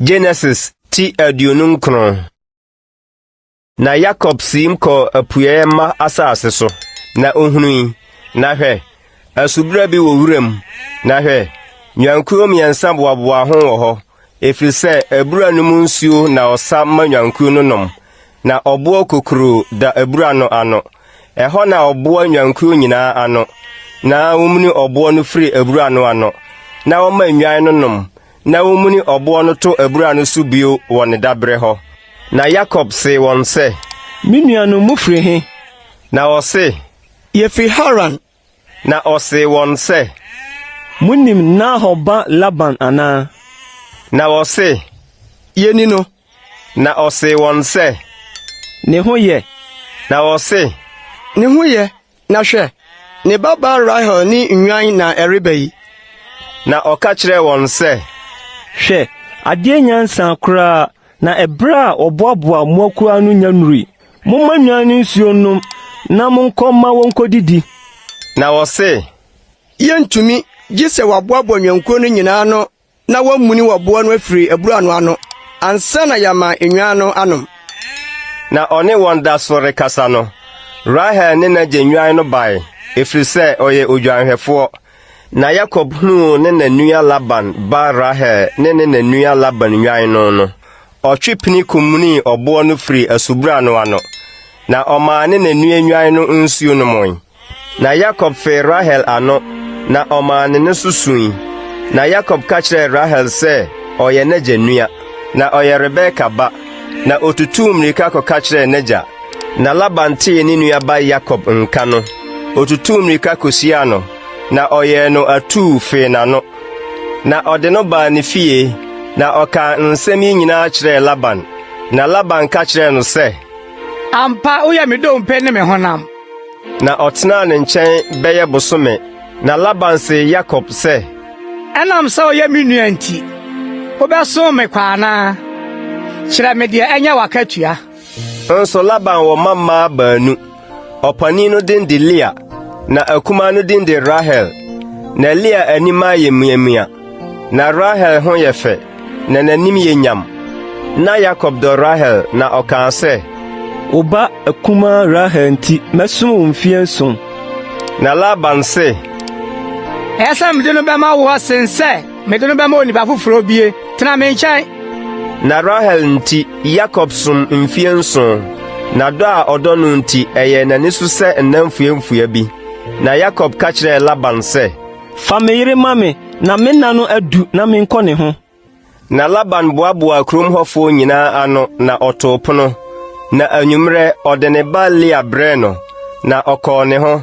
Genesis ti aduonu nkron na Yakob siim kɔɔ apueɛ mma asase so na ohui na hwɛ asubura bi wɔ wuram na hwɛ nnwankuo mmiɛnsa boaboa ho wɔ hɔ Ɛfiri sɛ abura no mu nsuo na ɔsa ma nnwankuo no nom, na ɔboɔ kokuroo da abura no ano. Ɛhɔ na ɔboa nnwankuo nyinaa ano, na wɔmuni ɔboɔ no firi abura no ano, na wɔma nnwan no nom, na wɔmuni ɔboɔ no to abura no so bio wɔ ne daberɛ hɔ. Na Yakob see wɔn sɛ, Me nuanom, mofiri he? Na wɔse, Yɛfiri Haran. Na ɔsee wɔn sɛ, Monim Nahor ba Laban anaa? Na wɔse, Yɛni no. Na ɔsee wɔn sɛ. Ne ho yɛ? Na wɔse. Ne ho yɛ, na hwɛ, ne babaa Rahel ne nnwan na ɛreba yi. Na ɔka kyerɛɛ wɔn sɛ. Hwɛ, adeɛ nyansa koraa, na ɛberɛ a wɔboaboa mmoakuo ano nya nnurui. Momma nnwan no nsuo nnom na monkɔ mma wɔnkɔdidi. Na wɔse, Yɛrentumi gye sɛ wɔaboaboa nnwankuo no nyinaa ano na wɔamuni wɔ boɔ no afiri abura no ano ansa na yɛama nnwan no anom. Na ɔne wɔn da so rekasa no, Rahel ne n'agya nnwan no bae, ɛfiri sɛ ɔyɛ odwanhwɛfoɔ. Na Yakob hunuu ne na nua Laban ba Rahel ne ne na nua Laban nnwan no no, ɔtwe pini komunii ɔboɔ no firii asubura no ano, na ɔmaa ne na nua nnwan no nsuo nomoe. Na Yakob fee Rahel ano, na ɔmaa ne no so sui. Na Yakob ka kyerɛɛ Rahel sɛ ɔyɛ n'agya nua, na ɔyɛ Rebeka ba, na ɔtutuu mmirika kɔka kyerɛɛ n'agya. Na Laban tee ne nuaban Yakob nka no, otutuu mmirika kohyiaa no, na ɔyɛɛ no atuu fee n'ano. Na ɔde no baa ne fie, na ɔkaa nsɛm yi nyinaa kyerɛɛ Laban. Na Laban ka kyerɛɛ no sɛ, Ampa, woyɛ me dompe ne me honam. Na ɔtenaa ne nkyɛn bɛyɛ bosome. Na Laban see Yakob sɛ, Ɛnam sɛ woyɛ me nua nti, wobɛsom me kwa anaa? Kyerɛ me deɛ ɛnyɛ w'akatua. Nanso Laban wɔ mma mmaa baanu. Ɔpanin no din de Lea, na akumaa no din de Rahel. Na Lea anim ayɛ mmeammea, na Rahel ho yɛ fɛ, na n'anim yɛ nyam. Na Yakob dɔ Rahel, na ɔkaa sɛ, Wo ba akumaa Rahel nti, mɛsom wo mfeɛ nson. Na Laban se, Ɛyɛ sɛ mede no bɛma wo asen sɛ Mede no bɛma onipa foforo obie. Tena me nkyɛn. Na Rahel nti, Yakob som mfie nson, na dɔ a ɔdɔ no nti, ɛyɛɛ n'ani so sɛ nna mfuamfua bi. Na Yakob ka kyerɛɛ Laban sɛ, Fa me yere ma me, na me nna no adu na menkɔ ne ho. Na Laban boaboaa kurom hɔfoɔ nyinaa ano, na ɔtoo pono. Na anwummerɛ, ɔde ne ba Lea brɛɛ no, na ɔkɔɔ ne ho.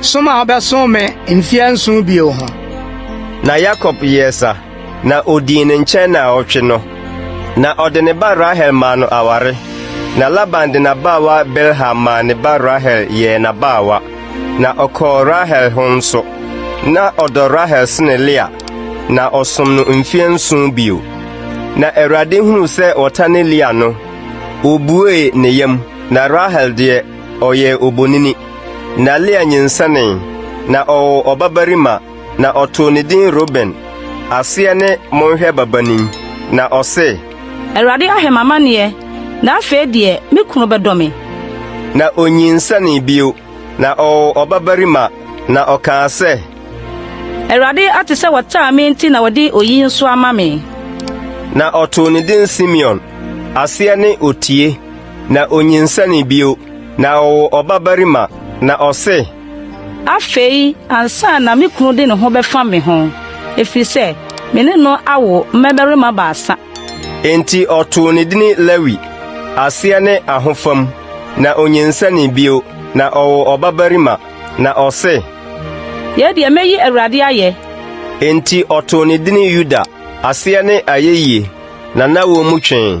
som a ɔbɛsom me mfe anson bio ho. Na Yakob yɛɛ sa, na odii ne nkyɛn nnaawɔtwe no. Na ɔde ne ba Rahel maa no aware, na Laban de n'abaawa Bilha maa ne ba Rahel yɛɛ n'abaawa, na ɔkɔɔ Rahel ho nso. Na ɔdɔ Rahel sene Lea, na ɔsom no mfe nson bio. Na Awurade hunuu sɛ wɔtane Lea no, obuee ne yam, na Rahel deɛ, Ɔyɛ obonini. Na Lea nyinsɛnee, na ɔwɔ ɔbabarima, na ɔtoo ne din Ruben. Aseɛ ne Monhwɛ Babanin. Na ɔse. Awurade ahwɛ m'amaneɛ, na afei deɛ me kunu bɛdɔ me. Na onyinsɛnee bio, na ɔwɔ ɔbabarima, na ɔkaa sɛ. Awurade ate sɛ wɔtaa me nti na ɔde oyi nso ama me. Na ɔtoo ne din Simeon. Aseɛ ne Otie. Na onyinsɛnee bio, na ɔwoo ɔbabarima, na ɔse. Afei ansa na me kunu de ne ho bɛfa me ho, efiri sɛ me ne no awo mmabarima baasa. Enti ɔtoo ne dini Lewi, aseɛ ne Ahofam. Na onyinsɛnee bio, na ɔwoo ɔbabarima, na ɔse. Yei deɛ mɛyi Awurade ayɛ. Enti ɔtoo ne dini Yuda, aseɛ ne Ayeyie, na na wɔmmu twee.